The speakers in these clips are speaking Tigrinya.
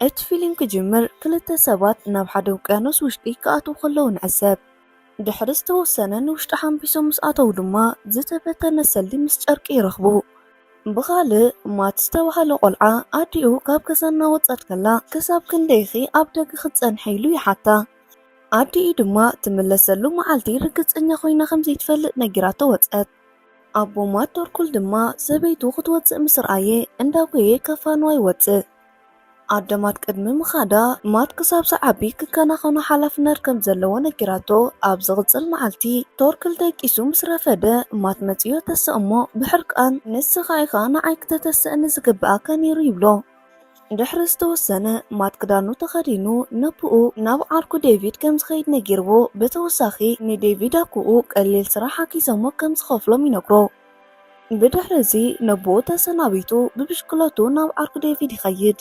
እቲ ፊልም ክጅምር ክልተ ሰባት ናብ ሓደ ውቅያኖስ ውሽጢ ክኣትዉ ከለዉ ንዕዘብ። ድሕሪ ዝተወሰነ ንውሽጢ ሓንቢሶም ምስ ኣተዉ ድማ ዝተበተነ ሰልዲ ምስ ጨርቂ ይረኽቡ። ብኻልእ ማት ዝተባህለ ቆልዓ ኣዲኡ ካብ ገዛ እናወጸት ከላ ክሳብ ክንደይ ኢኺ ኣብ ደገ ክትጸንሒ ኢሉ ይሓታ። ኣዲኡ ድማ ትምለሰሉ መዓልቲ ርግጸኛ ኮይና ከም ዘይትፈልጥ ነጊራቶ ወጸት። ኣቦ ማት ቶርኩል ድማ ሰበይቱ ክትወጽእ ምስ ረኣየ እንዳጎየ ከፋንዋ ይወጽእ። ኣደ ማት ቅድሚ ምኻዳ ማት ክሳብ ዝዓቢ ክከናኸኖ ሓላፍነት ከም ዘለዎ ነጊራቶ ኣብ ዝቕጽል መዓልቲ ቶርክል ደቂሱ ምስ ረፈደ ማት መጺኡ ተሰ እሞ ብሕርቃን ንስኻ ኢኻ ንዓይ ክተተስእኒ ዝግብኣካ ነይሩ ይብሎ። ድሕሪ ዝተወሰነ ማት ክዳኑ ተኸዲኑ ነብኡ ናብ ዓርኩ ዴቪድ ከም ዝኸይድ ነጊርዎ ብተወሳኺ ንዴቪድ ኣኩኡ ቀሊል ስራሕ ኣኪዘሞ ከም ዝኸፍሎም ይነግሮ። ብድሕሪ እዚ ነቦኡ ተሰናቢቱ ብብሽክለትኡ ናብ ዓርኩ ዴቪድ ይኸይድ።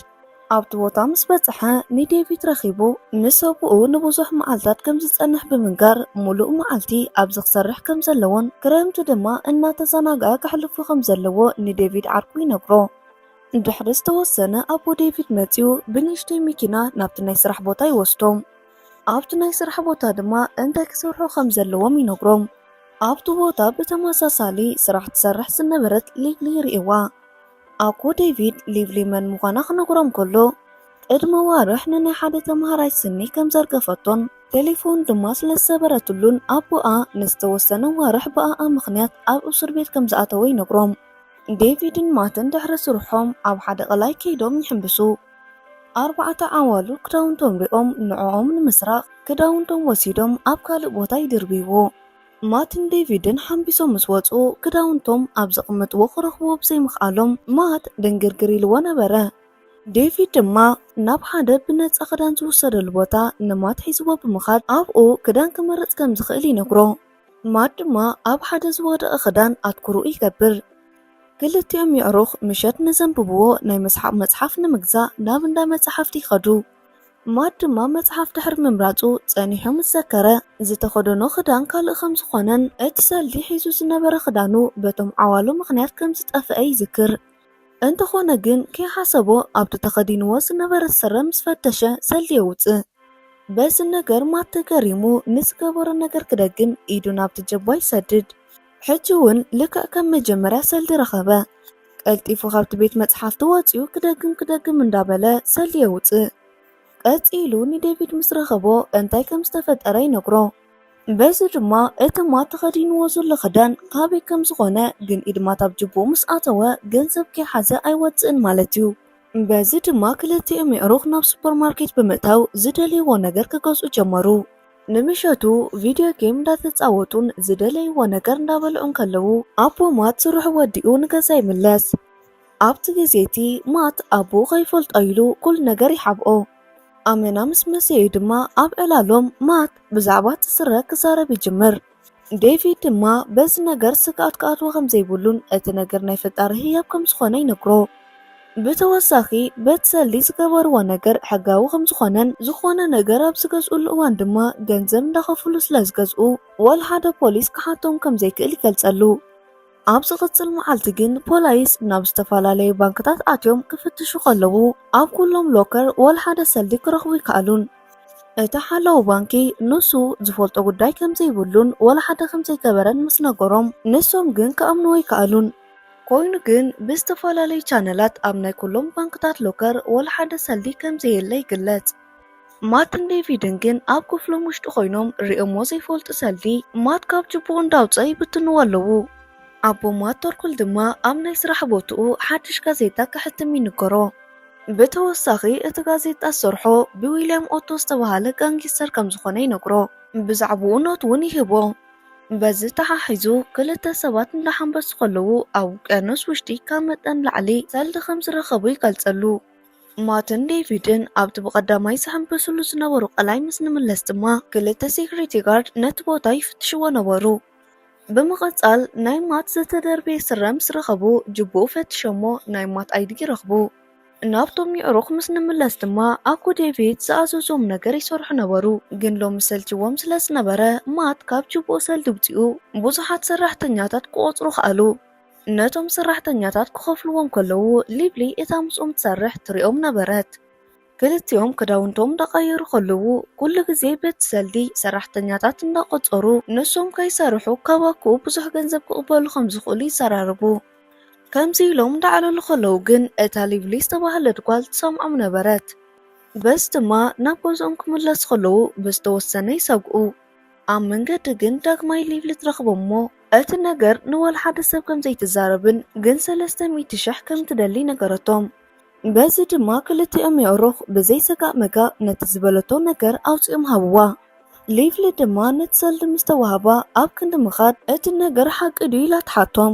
ኣብቲ ቦታ ምስ በጽሐ ንዴቪድ ረኺቡ ምስ ሰብኡኡ ንብዙሕ መዓልታት ከም ዝጸንሕ ብምንጋር ምሉእ መዓልቲ ኣብዚ ክሰርሕ ከም ዘለዎን ክረምቲ ድማ እናተዘናግዐ ከሕልፎ ከም ዘለዎ ንዴቪድ ዓርኩ ይነግሮ። ድሕሪ ዝተወሰነ ኣቦ ዴቪድ መጺኡ ብንእሽተይ መኪና ናብቲ ናይ ስራሕ ቦታ ይወስዶም። ኣብቲ ናይ ስራሕ ቦታ ድማ እንታይ ክሰርሑ ከም ዘለዎም ይነግሮም። ኣብቲ ቦታ ብተመሳሳሊ ስራሕ ትሰርሕ ዝነበረት ሊቭሊ ይርእይዋ። ኣኮ ዴቪድ ሊቭሊ መን ምዃና ክነግሮም ከሎ ቅድሚ ኣዋርሕ ንናይ ሓደ ተምሃራይ ስኒ ከም ዘርገፈቶን ቴሌፎን ድማ ስለ ዝሰበረትሉን ኣቦኣ ንዝተወሰነ ኣዋርሕ ብኣኣ ምኽንያት ኣብ እሱር ቤት ከም ዝኣተወ ይነግሮም። ዴቪድን ማትን ድሕሪ ስርሖም ኣብ ሓደ ቀላይ ከይዶም ይሕንብሱ። ኣርባዕተ ዓዋሉ ክዳውንቶም ሪኦም ንዕኦም ንምስራቕ ክዳውንቶም ወሲዶም ኣብ ካልእ ቦታ ይድርብይዎ። ማትን ዴቪድን ሓምቢሶም ምስ ወጹ ክዳውንቶም ኣብ ዘቕምጥዎ ክረኽብዎ ብዘይምኽኣሎም ማት ድንግርግር ኢልዎ ነበረ። ዴቪድ ድማ ናብ ሓደ ብነጻ ክዳን ዝውሰደሉ ቦታ ንማት ሒዝዎ ብምኻድ ኣብኡ ክዳን ክመርጽ ከም ዝኽእል ይነግሮ። ማድ ድማ ኣብ ሓደ ዝወደቐ ክዳን ኣትኩሮኡ ይገብር። ክልቲኦም የዕሩኽ ምሸት ንዘንብብዎ ናይ መስሓቕ መጽሓፍ ንምግዛእ ናብ እንዳ መጽሓፍቲ ይኸዱ። ማድ ድማ መጽሓፍ ድሕሪ ምምራጹ ጸኒሑ ምስ ዘከረ ዝተኸደኖ ክዳን ካልእ ከም ዝኾነን እቲ ሰልዲ ሒዙ ዝነበረ ክዳኑ በቶም ዓዋሉ ምኽንያት ከም ዝጠፍአ ይዝክር። እንተኾነ ግን ከይሓሰቦ ኣብቲ ተኸዲንዎ ዝነበረ ስረ ምስ ፈተሸ ሰልዲ የውጽእ። በዚ ነገር ማት ተገሪሙ ንዝገበሮ ነገር ክደግም ኢዱ ናብቲ ጀባ ይሰድድ። ሕጂ እውን ልክዕ ከም መጀመርያ ሰልዲ ረኸበ። ቀልጢፉ ካብቲ ቤት መጽሓፍቲ ወጺኡ ክደግም ክደግም እንዳበለ ሰልዲ የውጽእ። ቀጺሉ ንዴቪድ ምስ ረኸቦ እንታይ ከም ዝተፈጠረ ይነግሮ። በዚ ድማ እተማ ተኸዲንዎ ዘሎ ክዳን ካበይ ከም ዝኾነ ግን ኢድማት ኣብ ጅቡኡ ምስ ኣተወ ገንዘብ ከይሓዘ ኣይወፅእን ማለት እዩ። በዚ ድማ ክልቲኦም የዕሩኽ ናብ ሱፐርማርኬት ብምእታው ዝደልይዎ ነገር ክገዝኡ ጀመሩ። ንምሸቱ ቪድዮ ጌም እንዳተፃወቱን ዝደለይዎ ነገር እንዳበልዑን ከለዉ ኣቦ ማት ስርሑ ወዲኡ ንገዛ ይምለስ። ኣብቲ ግዜ እቲ ማት ኣቦኡ ከይፈልጦ ኢሉ ኩሉ ነገር ይሓብኦ። ኣመና ምስ መሰዩ ድማ ኣብ ዕላሎም ማት ብዛዕባ እቲ ስረ ክዛረብ ይጅምር። ዴቪድ ድማ በዚ ነገር ስግኣት ክኣትዎ ከም ዘይብሉን እቲ ነገር ናይ ፈጣሪ ህያብ ከም ዝኾነ ይነግሮ። ብተወሳኺ በት ሰሊ ዝገበርዎ ነገር ሕጋዊ ከም ዝኾነን ዝኾነ ነገር ኣብ ዝገዝእሉ እዋን ድማ ገንዘብ እንዳኸፍሉ ስለ ዝገዝኡ ዋላ ሓደ ፖሊስ ክሓቶም ከም ዘይክእል ይገልጸሉ። ኣብ ዝቕጽል መዓልቲ ግን ፖላይስ ናብ ዝተፈላለዩ ባንክታት ኣትዮም ክፍትሹ ከለዉ ኣብ ኩሎም ሎከር ወላ ሓደ ሰልዲ ክረኽቡ ኣይከኣሉን። እቲ ሓላዊ ባንኪ ንሱ ዝፈልጦ ጉዳይ ከም ዘይብሉን ወላ ሓደ ከም ዘይገበረን ምስ ነገሮም ንሶም ግን ክኣምንዎ ኣይከኣሉን። ኮይኑ ግን ብዝተፈላለዩ ቻነላት ኣብ ናይ ኩሎም ባንክታት ሎከር ወላ ሓደ ሰልዲ ከም ዘየለ ይግለጽ። ማትን ዴቪድን ግን ኣብ ክፍሎም ውሽጢ ኮይኖም ሪኦሞ ዘይፈልጡ ሰልዲ ማት ካብ ጅቡኡ እንዳውፀ ይብትንዎ ኣለዉ። ኣቦ ማት ቶርኩል ድማ ኣብ ናይ ስራሕ ቦትኡ ሓድሽ ጋዜጣ ከሕትም ይንገሮ። ብተወሳኺ እቲ ጋዜጣ ዝሰርሖ ብዊልያም ኦቶ ዝተብሃለ ጋንጊስተር ከምዝኾነ ይነግሮ። ብዛዕብኡ ኖት እውን ይህቦ። በዚ ተሓሒዙ ክልተ ሰባት እንዳሓንበሱ ከለዉ ኣብ ውቅያኖስ ውሽጢ ካብ መጠን ንላዕሊ ሰልዲ ከምዝረኸቡ ይገልፀሉ። ማትን ዴቪድን ኣብቲ ብቐዳማይ ዝሕምብስሉ ዝነበሩ ቀላይ ምስ ንምለስ ድማ ክልተ ሴኩሪቲ ጋርድ ነቲ ቦታ ይፍትሽዎ ነበሩ። ብምቕጻል ናይ ማት ዝተደርበየ ስረ ምስ ረኸቡ ጅቡኡ ፈትሸሞ ናይ ማት ኣይዲ ይረኽቡ። ናብቶም የዕሩኽ ምስ ንምለስ ድማ ኣኮ ዴቪድ ዝኣዘዞም ነገር ይሰርሑ ነበሩ፣ ግን ሎሚ ሰልቺዎም ስለ ዝነበረ ማት ካብ ጅቡኡ ሰልዲ ውጺኡ ብዙሓት ሰራሕተኛታት ክቖጽሩ ከኣሉ። ነቶም ሰራሕተኛታት ክኸፍልዎም ከለዉ ሊብሊ እታ ምስኦም ትሰርሕ ትርእዮም ነበረት። ክልቲኦም ክዳውንቶም እንዳቐየሩ ከለዉ ኩሉ ግዜ በቲ ሰልዲ ሰራሕተኛታት እንዳቖጸሩ ንሶም ከይሰርሑ ካብ ኣኩኡ ብዙሕ ገንዘብ ክቕበሉ ከም ዝኽእሉ ይዘራረቡ። ከምዚ ኢሎም እንዳዕለሉ ከለዉ ግን እታ ሊብሊ ዝተባህለት ጓል ትሰምዖም ነበረት። በዚ ድማ ናብ ገዝኦም ክምለሱ ከለዉ ብዝተወሰነ ይሰግኡ። ኣብ መንገዲ ግን ዳግማይ ሊቭሊ ትረኽቦም እሞ እቲ ነገር ንወልሓደ ሰብ ከም ዘይትዛረብን ግን ሰለስተ ሚእቲ ሽሕ ከም ትደሊ ነገረቶም። በዚ ድማ ክልቲኦም የእሩኽ ብዘይ ሰጋእ መጋእ ነቲ ዝበለቶ ነገር ኣውጺኦም ሃብዋ። ሊቭሊ ድማ ነቲ ሰልዲ ምስ ተዋህባ ኣብ ክንዲ ምኻድ እቲ ነገር ሓቂ ድዩ ኢላ ትሓቶም።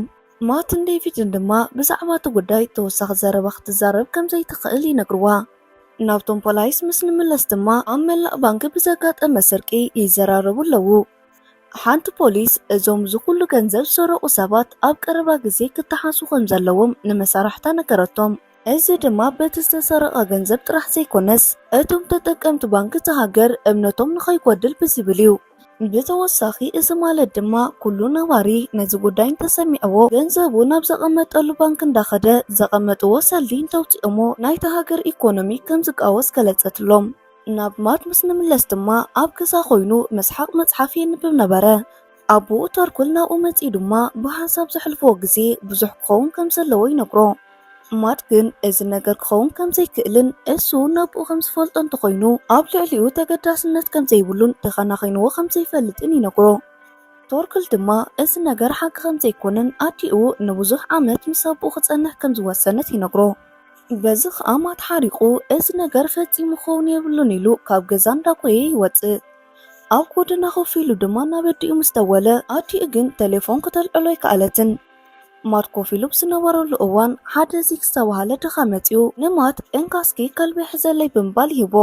ማትን ዴቪድን ድማ ብዛዕባ እቲ ጉዳይ ተወሳኺ ዘረባ ክትዛረብ ከም ዘይትኽእል ይነግርዋ። ናብቶም ፖላይስ ምስ ንምለስ ድማ ኣብ መላእ ባንኪ ብዘጋጠመ ስርቂ ይዘራረቡ ኣለዉ። ሓንቲ ፖሊስ እዞም እዚ ኩሉ ገንዘብ ዝሰረቑ ሰባት ኣብ ቀረባ ግዜ ክተሓዙ ከም ዘለዎም ንመሳርሕታ ነገረቶም። እዚ ድማ በቲ ዝተሰረቐ ገንዘብ ጥራሕ ዘይኮነስ እቶም ተጠቀምቲ ባንኪ እታ ሃገር እምነቶም ንኸይጎድል ብዝብል እዩ። ብተወሳኺ እዚ ማለት ድማ ኩሉ ነባሪ ነዚ ጉዳይ እንተሰሚዕዎ ገንዘቡ ናብ ዘቐመጠሉ ባንክ እንዳኸደ ዘቐመጥዎ ሰልዲ እንተውፂኦሞ ናይታ ሃገር ኢኮኖሚ ከምዝቃወስ ገለፀትሎም። ናብ ማት ምስ ንምለስ ድማ ኣብ ገዛ ኮይኑ መስሓቕ መፅሓፍ የንብብ ነበረ። ኣቡኡ ተርኩል ናብኡ መፂኡ ድማ ብሃንሳብ ዘሕልፍዎ ግዜ ብዙሕ ክኸውን ከምዘለዎ ይነግሮ። ማት ግን እዚ ነገር ክኸውን ከም ዘይክእልን እሱ ነብኡ ከም ዝፈልጦ እንተኾይኑ ኣብ ልዕሊኡ ተገዳስነት ከም ዘይብሉን ተኸናኺንዎ ከም ዘይፈልጥን ይነግሮ። ቶርክል ድማ እዚ ነገር ሓቂ ከም ዘይኮነን ኣዲኡ ንብዙሕ ዓመት ምስ ኣቦኡ ክጸንሕ ከም ዝወሰነት ይነግሮ። በዚ ኸኣ ማት ሓሪቑ እዚ ነገር ፈጺሙ ክኸውን የብሉን ኢሉ ካብ ገዛ እንዳጎየ ይወጽእ። ኣብ ጎደና ኮፍ ኢሉ ድማ ናብ ኣዲኡ ምስ ደወለ ኣዲኡ ግን ተሌፎን ክተልዕሎ ኣይከኣለትን። ማርኮ ፊሉፕ ዝነበረሉ እዋን ሓደ ዚክ ዝተባህለ ድኻ መጺኡ ንማት እንካ እስኪ ከልቢ ሕዘለይ ብምባል ይህቦ።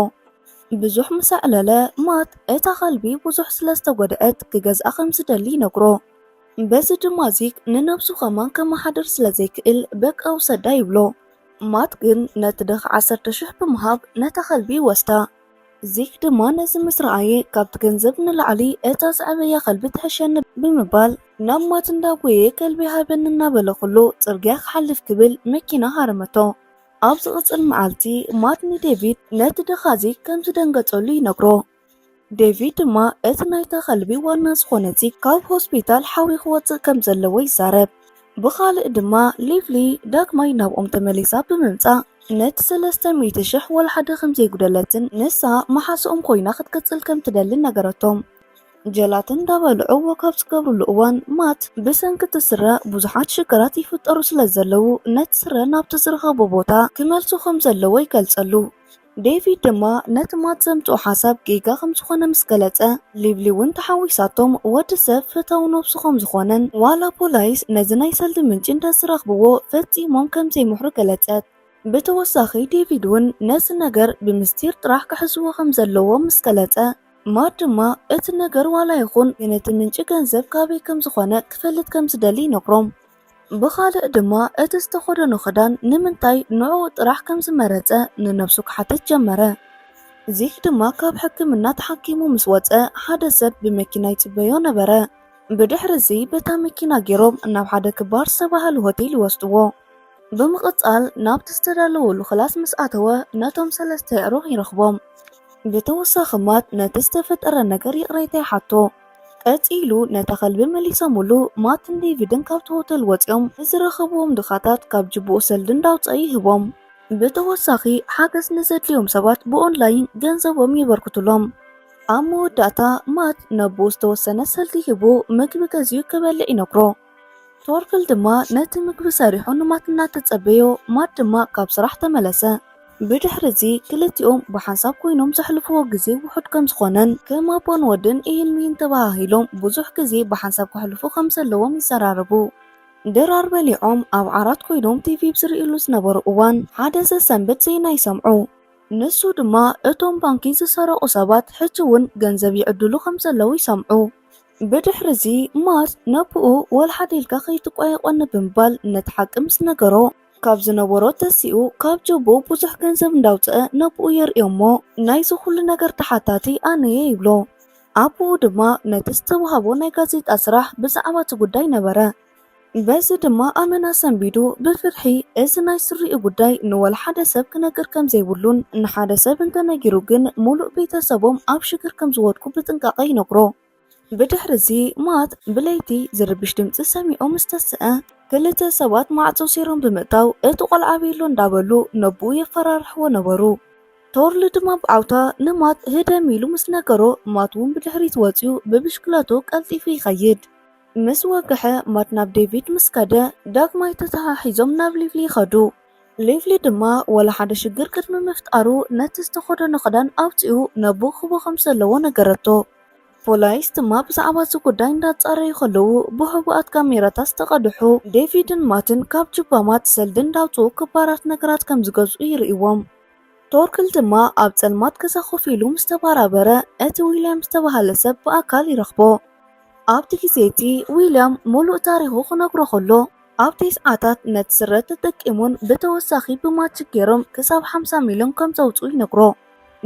ብዙሕ ምስ ኣዕለለ ማት እታ ከልቢ ብዙሕ ስለ ዝተጎድኣት ክገዝኣ ከም ዝደሊ ይነግሮ። በዚ ድማ ዚክ ንነብሱ ከማን ከመሓድር ስለ ዘይክእል በቃ ውሰዳ ይብሎ። ማት ግን ነቲ ድኻ ዓሰርተ ሽሕ ብምሃብ ነታ ከልቢ ይወስዳ። ዚክ ድማ ነዚ ምስ ረኣየ፣ ካብቲ ገንዘብ ንላዕሊ እታ ዘዕበያ ከልቢ ትሕሸኒ ብምባል፣ ናብ ማት እንዳ ጎየየ ከልቢ ሃበኒ እናበለ ኩሉ ጽርግያ ክሓልፍ ክብል መኪና ሃረመቶ። ኣብ ዝቕጽል መዓልቲ፣ ማት ንዴቪድ ነቲ ድኻ ዚክ ከም ዝደንገጸሉ ይነግሮ። ዴቪድ ድማ እቲ ናይታ ከልቢ ዋና ዝዀነ ዚክ ካብ ሆስፒታል ሓውዩ ክወጽእ ከም ዘለዎ ይዛረብ። ብኻልእ ድማ ሊቭሊ ዳግማይ ናብኦም ተመሊሳ ብምምጻእ ነቲ ሰለስተ ሚእቲ ሽሕ ወላሓደ ከም ዘይጉደለትን ንሳ መሓዝኦም ኮይና ክትቅጽል ከም ትደልን ነገረቶም። ጀላቲ እንዳበልዑ ወክ ኣብ ዝገብርሉ እዋን ማት ብሰንኪ እቲ ስረ ብዙሓት ሽግራት ይፍጠሩ ስለ ዘለዉ ነቲ ስረ ናብቲ ዝረኸቦ ቦታ ክመልሶ ከም ዘለዎ ይገልጸሉ። ዴቪድ ድማ ነቲ ማት ዘምጽኦ ሓሳብ ጌጋ ከም ዝኾነ ምስ ገለጸ፣ ሊብሊ እውን ተሓዊሳቶም፣ ወዲ ሰብ ፈታዊ ነብሱ ከም ዝኾነን ዋላ ፖላይስ ነዚ ናይ ሰልዲ ምንጪ እንተ ዝረኽብዎ ፈጺሞም ከም ዘይምሕሩ ገለጸት። ብተወሳኺ ዴቪድ እውን ነዚ ነገር ብምስጢር ጥራሕ ክሕዝዎ ከም ዘለዎም ምስ ገለጸ፣ ማት ድማ እቲ ነገር ዋላ ይኹን ግን እቲ ምንጪ ገንዘብ ካበይ ከም ዝኾነ ክፈልጥ ከም ዝደሊ ይነግሮም። ብኻልእ ድማ እቲ ዝተኸደኖ ክዳን ንምንታይ ንዕኡ ጥራሕ ከም ዝመረጸ ንነብሱ ክሓትት ጀመረ። ዚክ ድማ ካብ ሕክምና ተሓኪሙ ምስ ወጸ ሓደ ሰብ ብመኪና ይጽበዮ ነበረ። ብድሕሪ እዚ በታ መኪና ገይሮም ናብ ሓደ ክባር ዝተባህለ ሆቴል ይወስድዎ። ብምቕጻል ናብቲ ዝተዳለወሉ ክላስ ምስ ኣተወ ነቶም ሰለስተ የዕሩኽ ይረኽቦም። ብተወሳኺ ማት ነቲ ዝተፈጠረ ነገር ይቕሬታ ይሓቶ። ቀጺሉ ነታ ከልቢ መሊሰሙሉ፣ ማትን ዴቪድን ካብቲ ሆተል ወጺኦም ንዝረኸብዎም ድኻታት ካብ ጅቡኡ ሰልዲ እንዳውጸኣ ይህቦም። ብተወሳኺ ሓገዝ ንዘድልዮም ሰባት ብኦንላይን ገንዘቦም የበርክቱሎም። ኣብ መወዳእታ ማት ነቦኡ ዝተወሰነ ሰልዲ ሂቡ ምግቢ ገዚኡ ክበልዕ ይነግሮ። ቶርክል ድማ ነቲ ምግቢ ሰሪሑ ንማት እናተጸበዮ፣ ማት ድማ ካብ ስራሕ ተመለሰ። ብድሕሪ እዚ ክልቲኦም ብሓንሳብ ኮይኖም ዘሕልፍዎ ግዜ ውሑድ ከም ዝኾነን ከም ኣቦን ወድን ኢሂን ምሂን ተበሃሂሎም ብዙሕ ግዜ ብሓንሳብ ከሕልፉ ከም ዘለዎም ይዘራረቡ። ድራር በሊዖም ኣብ ዓራት ኮይኖም ቲቪ ብ ዝርእይሉ ዝነበሩ እዋን ሓደ ዘሰንብድ ዜና ይሰምዑ። ንሱ ድማ እቶም ባንኪ ዝሰረቑ ሰባት ሕጂ እውን ገንዘብ ይዕድሉ ከም ዘለዉ ይሰምዑ። ብድሕርዚ ማር ነቦኡ ወልሓደ ኢልካ ከይትቋየቖኒ ብምባል ነቲ ሓቂ ምስ ነገሮ ካብ ዝነበሮ ተሲኡ ካብ ጆቦ ብዙሕ ገንዘብ እንዳውፀአ ነቦኡ የርእዮሞ ናይዚ ኩሉ ነገር ተሓታቲ ኣነየ ይብሎ። ኣቦኡ ድማ ነቲ ዝተውሃቦ ናይ ጋዜጣ ስራሕ ብዛዕባ እቲ ጉዳይ ነበረ በዚ ድማ ኣመና ሰንቢዱ ብፍርሒ እዚ ናይ ስሪኡ ጉዳይ ንወላ ሓደ ሰብ ክነግር ከም ዘይብሉን ንሓደ ሰብ እንተ ነጊሩ ግን ሙሉእ ቤተሰቦም ኣብ ሽግር ከም ዝወድቁ ብጥንቃቐ ይነግሮ። ብድሕሪ'ዚ ማት ብለይቲ ዝርብሽ ድምጺ ሰሚዑ ምስ ተስኣ ክልተ ሰባት ማዕጾ ሰይሮም ብምእታው እቲ ቆልዓ ቤሎ እንዳበሉ ነቦኡ የፈራርሕዎ ነበሩ። ቶርል ድማ ብዓውታ ንማት ህደም ኢሉ ምስ ነገሮ ማት'ውን ብድሕሪት ወጺኡ ብብሽክለትኡ ቀልጢፉ ይኸይድ። ምስ ወግሐ ማት ናብ ዴቪድ ምስ ከደ ዳግማይ ተተሓሒዞም ናብ ሊቭሊ ይኸዱ። ሊቭሊ ድማ ዋላ ሓደ ሽግር ቅድሚ ምፍጣሩ ነቲ ዝተኸደኖ ክዳን ኣውጺኡ ነቦኡ ክህቦ ከም ዘለዎ ነገረቶ። ፖላይስ ድማ ብዛዕባ እዚ ጉዳይ እንዳጻረዩ ከለዉ ብሕቡኣት ካሜራታት ዝተቐድሑ ዴቪድን ማትን ካብ ጁባ ማት ሰልዲ እንዳውጽኡ ክባራት ነገራት ከም ዝገዝኡ ይርእይዎም። ቶርክል ድማ ኣብ ጸልማት ገዛ ኮፍ ኢሉ ምስ ተባራበረ እቲ ዊልያም ዝተባህለ ሰብ ብኣካል ይረኽቦ። ኣብቲ ግዜ እቲ ዊልያም ምሉእ ታሪኹ ክነግሮ ከሎ ኣብ ቴስዓታት ነቲ ስረ ተጠቂሞን ብተወሳኺ ብማጂክ ገይሮም ክሳብ ሓምሳ ሚልዮን ከም ዘውጽኡ ይነግሮ።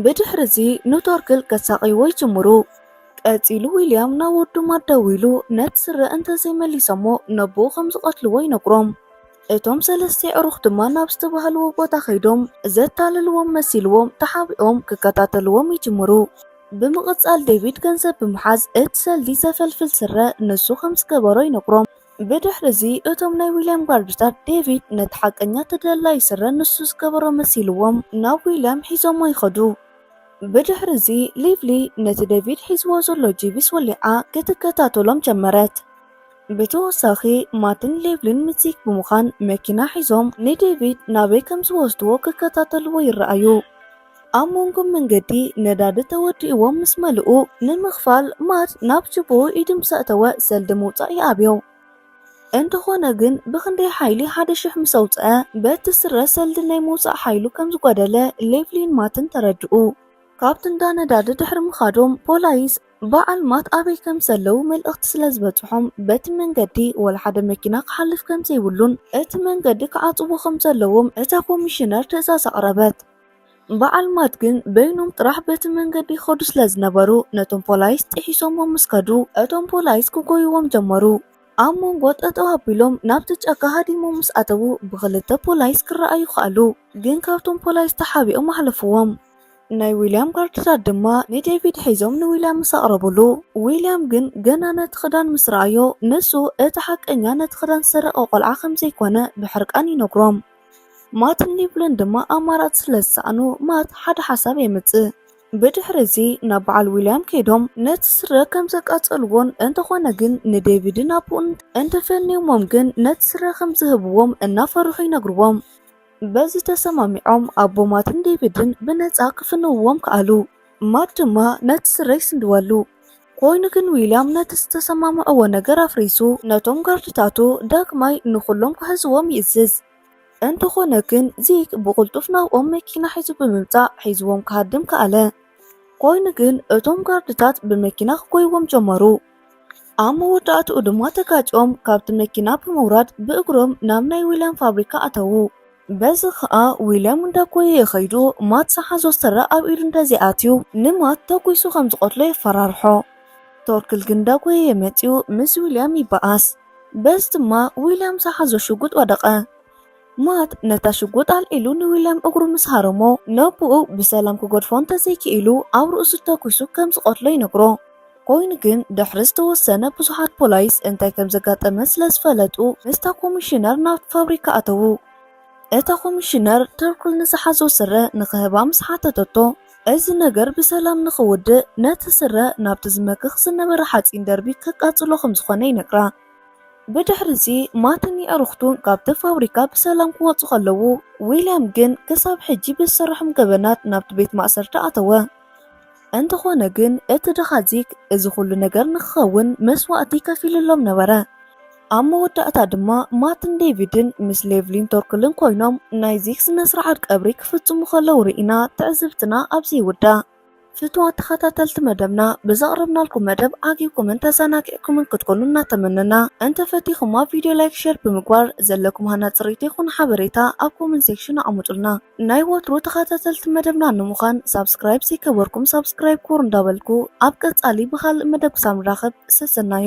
ብድሕሪ እዚ ንቶርክል ከሳቕይዎ ይጅምሩ። ቀጺሉ ዊልያም ናብ ወዱ ማት ደዊሉ ነቲ ስረ እንተዘይመሊሰሞ ነቦኡ ከም ዝቐትልዎ ይነግሮም። እቶም ሰለስተ የዕሩኽ ድማ ናብ ዝተባህልዎ ቦታ ከይዶም ዘታልልዎም መሲልዎም ተሓቢኦም ክከታተልዎም ይጅምሩ። ብምቕጻል ዴቪድ ገንዘብ ብምሓዝ እቲ ሰልዲ ዘፈልፍል ስረ ንሱ ከም ዝገበሮ ይነግሮም። ብድሕሪ'ዚ እቶም ናይ ዊልያም ጋርድታት ዴቪድ ነቲ ሓቀኛ ተደላዪ ስረ ንሱ ዝገበሮ መሲልዎም ናብ ዊልያም ሒዞሞ ይኸዱ። ብድሕሪ'ዚ ሊቭሊ ነቲ ዴቪድ ሒዝዎ ዘሎ ጂቢስ ወሊዓ ክትከታተሎም ጀመረት። ብተወሳኺ ማትን ሌቭልን ምስ ዚክ ብምዃን መኪና ሒዞም ንዴቪድ ናበይ ከም ዝወስድዎ ክከታተልዎ ይረኣዩ። ኣብ መንጎ መንገዲ ነዳዲ ተወዲኡዎም ምስ መልኡ፣ ንምኽፋል ማት ናብ ቱቦኡ ኢዱ ምስ ኣእተወ ሰልዲ ምውጻእ ይኣብዮ። እንተኾነ ግን ብኽንደይ ሓይሊ ሓደ ሽሕ ምስ ኣውጽኣ በቲ ስረ ሰልዲ ናይ ምውጻእ ሓይሉ ከም ዝጓደለ ሌቭሊን ማትን ተረድኡ። ካብቲ እንዳ ነዳዲ ድሕሪ ምኻዶም ፖላይስ በዓል ማት ኣበይ ከም ዘለው መልእኽቲ ስለ ዝበጽሖም፣ በቲ መንገዲ ወላ ሓደ መኪና ክሓልፍ ከም ዘይብሉን እቲ መንገዲ ክዓጽዎ ከም ዘለዎም እታ ኮሚሽነር ትእዛዝ ኣቕረበት። በዓል ማት ግን በይኖም ጥራሕ በቲ መንገዲ ይኸዱ ስለ ዝነበሩ ነቶም ፖላይስ ጥሒሶሞም ምስ ከዱ እቶም ፖላይስ ክጎይዎም ጀመሩ። ኣብ መንጎ ጠጠው ኣቢሎም ናብቲ ጫካ ሃዲሞም ምስ ኣተዉ ብኽልተ ፖላይስ ክረኣዩ ከኣሉ። ግን ካብቶም ፖላይስ ተሓቢኦም ኣሕለፍዎም። ናይ ዊልያም ጋርድታት ድማ ንዴቪድ ሒዞም ንዊልያም ምስ ኣቕረቡሉ፣ ዊልያም ግን ገና ነቲ ክዳን ምስ ረኣዮ፣ ንሱ እቲ ሓቀኛ ነቲ ክዳን ዝሰረቐ ቆልዓ ከም ዘይኰነ ብሕርቃን ይነግሮም። ማትን ሊቭልን ድማ ኣማራጺ ስለ ዝሰኣኑ፣ ማት ሓደ ሓሳብ የምጽእ። ብድሕሪ እዚ ናብ በዓል ዊልያም ከይዶም ነቲ ስረ ከም ዘቃጸልዎን እንተዀነ ግን ንዴቪድን ኣቦኡን እንተፈንዮሞም ግን ነቲ ስረ ከም ዝህብዎም እናፈርሑ ይነግርዎም። በዚ ተሰማሚዖም ኣቦ ማትን ዴቪድን ብነጻ ክፍንውዎም ከኣሉ። ማት ድማ ነቲ ስረ ይስንድወሉ። ኰይኑ ግን ዊልያም ነቲ ዝተሰማምዕዎ ነገር ኣፍሪሱ ነቶም ጋርድታቱ ዳግማይ ንዅሎም ክሕዝዎም ይእዝዝ። እንተዀነ ግን ዚግ ብቕልጡፍ ናብኦም መኪና ሒዙ ብምምጻእ ሒዝዎም ክሃድም ከኣለ። ኰይኑ ግን እቶም ጋርድታት ብመኪና ክጐይዎም ጀመሩ። ኣብ መወዳእትኡ ድማ ተጋጮም ካብቲ መኪና ብምውራድ ብእግሮም ናብ ናይ ዊልያም ፋብሪካ ኣተዉ። በዚ ኸኣ ዊልያም እንዳጎየየ ኸይዱ ማት ዝሓዞ ስረ ኣብ ኢዱ እንተዘይኣትዩ ንማት ተጒሱ ከም ዝቐትሎ የፈራርሖ። ቶርክል ግን እንዳጎየየ መጺኡ ምስ ዊልያም ይበኣስ። በዚ ድማ ዊልያም ዝሓዞ ሽጉጥ ወደቐ። ማት ነታ ሽጉጥ ኣልዒሉ ንዊልያም እግሩ ምስ ሃረሞ ነቦኡ ብሰላም ክገድፎ እንተዘይክኢሉ ኣብ ርእሱ ተጒሱ ከም ዝቐትሎ ይነግሮ። ኮይኑ ግን ድሕሪ ዝተወሰነ ብዙሓት ፖላይስ እንታይ ከም ዘጋጠመ ስለ ዝፈለጡ ምስታ ኮሚሽነር ናብቲ ፋብሪካ ኣተዉ። እታ ኮሚሽነር ተርኩል ንዝሓዞ ስረ ንኽህባ ምስ ሓተተቶ እዚ ነገር ብሰላም ንኽውድእ ነቲ ስረ ናብቲ ዝመክኽ ዝነበረ ሓጺን ደርቢ ከቃጽሎ ከም ዝኾነ ይነግራ። ብድሕሪዚ ማትን የዕሩኽቱን ካብቲ ፋብሪካ ብሰላም ክወጹ ከለዉ ዊልያም ግን ክሳብ ሕጂ ብዝሰርሖም ገበናት ናብቲ ቤት ማእሰርቲ ኣተወ። እንተኾነ ግን እቲ ድኻ ዚግ እዚ ኹሉ ነገር ንክኸውን መስዋእቲ ከፊልሎም ነበረ። ኣብ መወዳእታ ድማ ማትን ዴቪድን ምስ ሌቭሊን ቶርክልን ኮይኖም ናይ ዚግ ስነ-ስርዓት ቀብሪ ክፍጽሙ ከለዉ ርኢና ትዕዝብትና ኣብዚ ይውዳእ። ፍቱዋት ተኸታተልቲ መደብና ብዘቕረብናልኩም መደብ ዓጊብኩምን ተዘናጊዕኩምን ክትኮኑ እናተመነና እንተ ፈቲኹማ ቪድዮ ላይክ ሼር ብምግባር ዘለኩም ሃናጺ ርኢቶ ይኹን ሓበሬታ ኣብ ኮመንት ሴክሽን ኣቕምጡልና። ናይ ወትሩ ተኸታተልቲ መደብና ንምዃን ሳብስክራይብ ዘይከበርኩም ሳብስክራይብ ኩሩ እንዳበልኩ ኣብ ቀጻሊ ብኻልእ መደብ ክሳብ ንራኸብ ሰሰናዩ።